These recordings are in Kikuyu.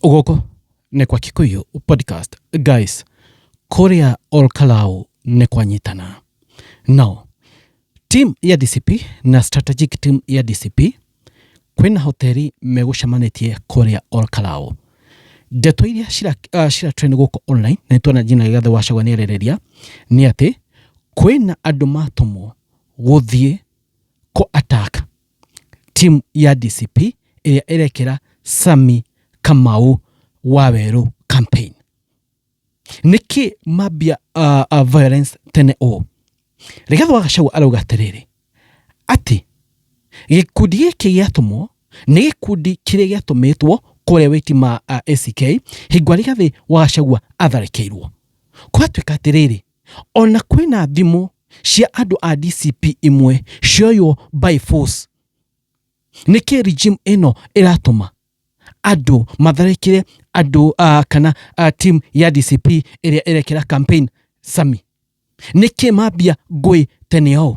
gũkũ nĩ kwa kikuyu podcast guys kũrĩa olkalau nĩ kwanyitana no team ya dcp na strategic team ya dcp kwĩna hoteli megũcemanĩtie kũrĩa olkalau ndeto iria cira, uh, cira trend gũkũ online na nĩtuona jina gĩgathe wacagwa nĩ arĩrĩria nĩ atĩ kwĩna andũ matũmwo gũthiĩ kũ attack Timu ya DCP ĩrĩa ĩrekĩra Sami Kamau Wawerũ campaign. Nĩkĩ mambia uh, uh, violence tene ũũ? Rigathĩ wa Gachagua arauga atĩrĩrĩ atĩ gĩkundi gĩkĩ gĩatũmwo nĩ gĩkundi kĩrĩa gĩatũmĩtwo kũrĩa wĩti ma uh, ACK hingo Rigathĩ wa Gachagua atharĩkĩirwo. Kwatuĩka atĩrĩrĩ Ona kwĩna thimũ cia andũ a DCP imwe cioywo by force. Nĩkĩ regime ĩno ĩratũma andũ matharĩkĩre andũ uh, kana uh, team ya DCP ĩrĩa ĩrekĩra campaign Sami? Nĩkĩ mambia ngũĩ tene ũũ?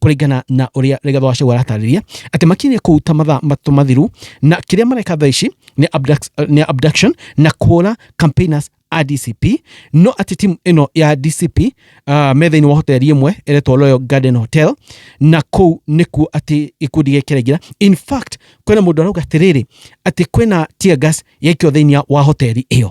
kũringana na ũrĩa Rigathũ wa Gachagua aratarĩria atĩ makinyire kũu ta mathaa matũ mathiru na kĩrĩa mareka thaa ici nĩ abduct- nĩ abduction na kũhũra campaigners a DCP no atĩ timu ĩno ya DCP uh, metha-inĩ wa hoteli ĩmwe ĩretwo Royal Garden Hotel na kũu nĩkuo atĩ gĩkundi gĩkĩ kĩraingĩra in fact kwĩna mũndũ arauga atĩrĩrĩ atĩ kwĩna tear gas yaikio thĩinĩ wa hoteli ĩyo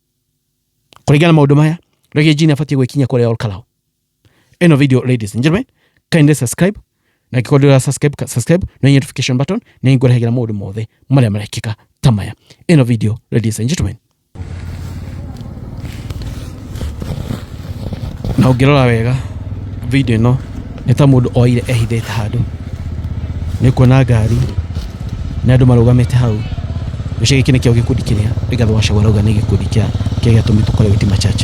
kũringana na maũndũ maya Reggae Gene abatiĩ gwĩkinya kũrĩa Ol Kalou ĩno video ladies and gentlemen kindly subscribe na angĩkorwo ndĩra subscribe subscribe na hihinya notification button nĩ ngũrehagĩra maũndũ mothe marĩa marekĩka ta maya ĩno video ladies and gentlemen na ũngĩrora wega video ĩno nĩ ta mũndũ oire ehithĩte handũ nĩ kuona ngari na andũ marũgamĩte hau gĩcigo gĩkĩ nĩkĩo gĩkundi kĩrĩa Rigathĩ wa Gachagua arauga nĩ gĩkundi kĩa kĩrĩa gĩatũmi tũkore Witima Church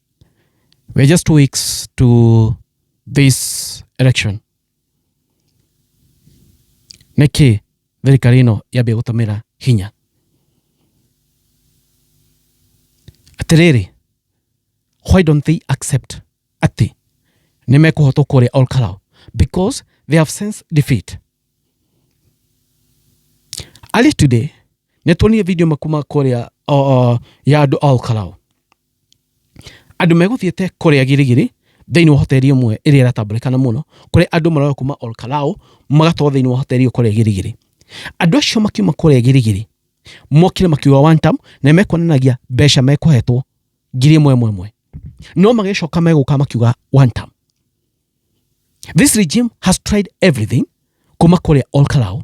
We're just two weeks to this election. Nĩkĩ thirikari ĩno yambia gũtũmĩra hinya? Atĩrĩrĩ, why don't they accept atĩ nĩ mekũhotwo kũrĩa Ol Kalou? Because they have since defeat. Early today, nĩ tuonire video makuma kũrĩa uh, uh, ya andũ a Ol Kalou. Andũ megũthiĩte kũrĩa Girigiri thĩinĩ wa hoteri ĩmwe ĩrĩa ĩratambũrĩkana mũno, kũrĩa andũ maroya kuma Ol Kalou magatwarwo thĩinĩ wa hoteri ĩyo kũrĩa Girigiri. Andũ acio makiuma kũrĩa Girigiri mokire makiuga one term na nĩmekuonanagia mbeca mekũhetwo ngiri ĩmwe ĩmwe ĩmwe. No magĩcoka megũka makiuga one term. This regime has tried everything kuma kũrĩa Ol Kalou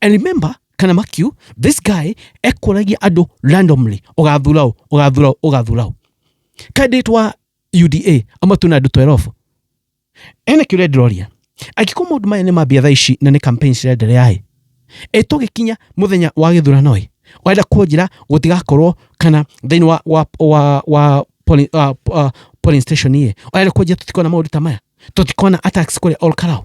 and remember kana makiu this guy ekũragia andũ randomly ũgathura ũ ũgathura ũ ũgathura ũ candidate wa uda amatu na andũ 12 ene kĩũria ndĩroria angĩkorwo maũndũ maya nĩ mambia thaa ici na nĩ campaign cirenderea ĩ ĩ tũgĩkinya mũthenya wa gĩthurano ĩ wenda kũnjĩra gũtigakorwo kana thĩinĩ wa, wa, wa, wa polling, uh, uh, polling station ĩ wenda kũnjĩra tũtikona maũndũ ta maya tũtikona attacks kũrĩa all karao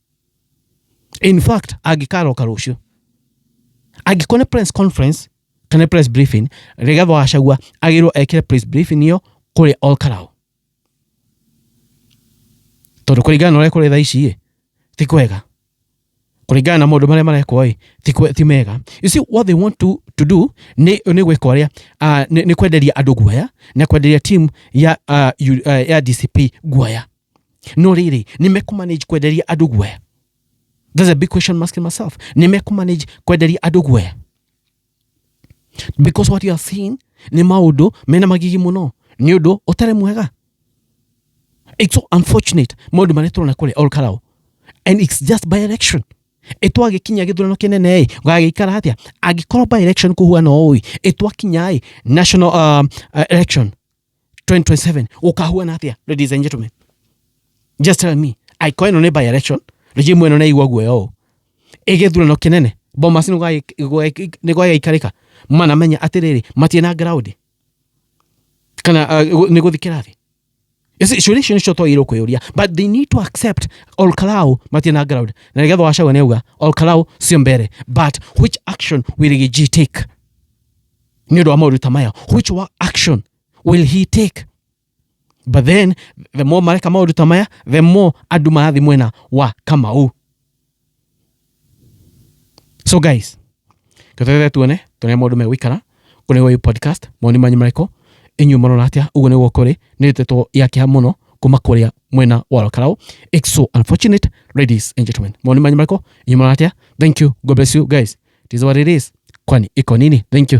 in fact angĩkaroka rũciũ angĩkorwo nĩ press conference kana press briefing Rigathi wa Gachagua agĩrwo ekĩre press briefing ĩyo kũrĩ Ol Kalou tondũ kũringana na ũrĩa kũrĩ thaa ici ĩ ti kwega kũringana na maũndũ marĩa marekwo ĩ ti kwe- ti mega you see what they want to, to do nĩ nĩ gwĩka ũrĩa ah, nĩ nĩ kwenderia andũ guoya na kwenderia team ya ah, yu- ah, ya DCP guoya no rĩrĩ nĩ mekũmanage kwenderia andũ guoya That's a big question I'm asking myself. Nĩ mekũmanage kwenderia andũ guoya because what you are seeing nĩ maũndũ mena magigi mũno nĩ ũndũ ũtarĩ mwega it's so unfortunate maũndũ marĩa tũrona kũrĩa olkarao and it's just by election ĩtwagĩkinya gĩthurano kĩnene ĩ gagĩikara atĩa angĩkorwo by election kũhuana ũũ ĩ ĩtwakinya ĩ national um, uh, election 2027 ukahua na atia ladies and gentlemen just tell me i coin no by election rigi mweno na igwa guoya o igethura no kinene bomas no gai ni gwa ikarika mana menya atiriri matie na ground kana uh, ni guthikira thi ciũria icio nĩcio twagĩrĩirwo kwĩyũria but they need to accept olkalau matie na ground na nĩgetha wacagwa nĩ auga olkalau sio mbere but which action will Rigiji take nĩ ũndũ wa maũndũ ta maya which wa action will he take but then the more mareka maũndũ ta maya the more andũ marathiĩ mwena wa kamau so guys tweterere tuone tuone maũndũ megũikara kũrĩ ũyũ podcast maoni manyu marĩkũ inyuĩ marona atĩa ũguo nĩguo kũrĩ nĩ ndeto ya kĩha mũno kuma kũrĩa mwena wa Rũkarau it's so unfortunate ladies and gentlemen maoni manyu marĩkũ inyuĩ marona atĩa thank you god bless you guys it is what it is kwani iko nini thank you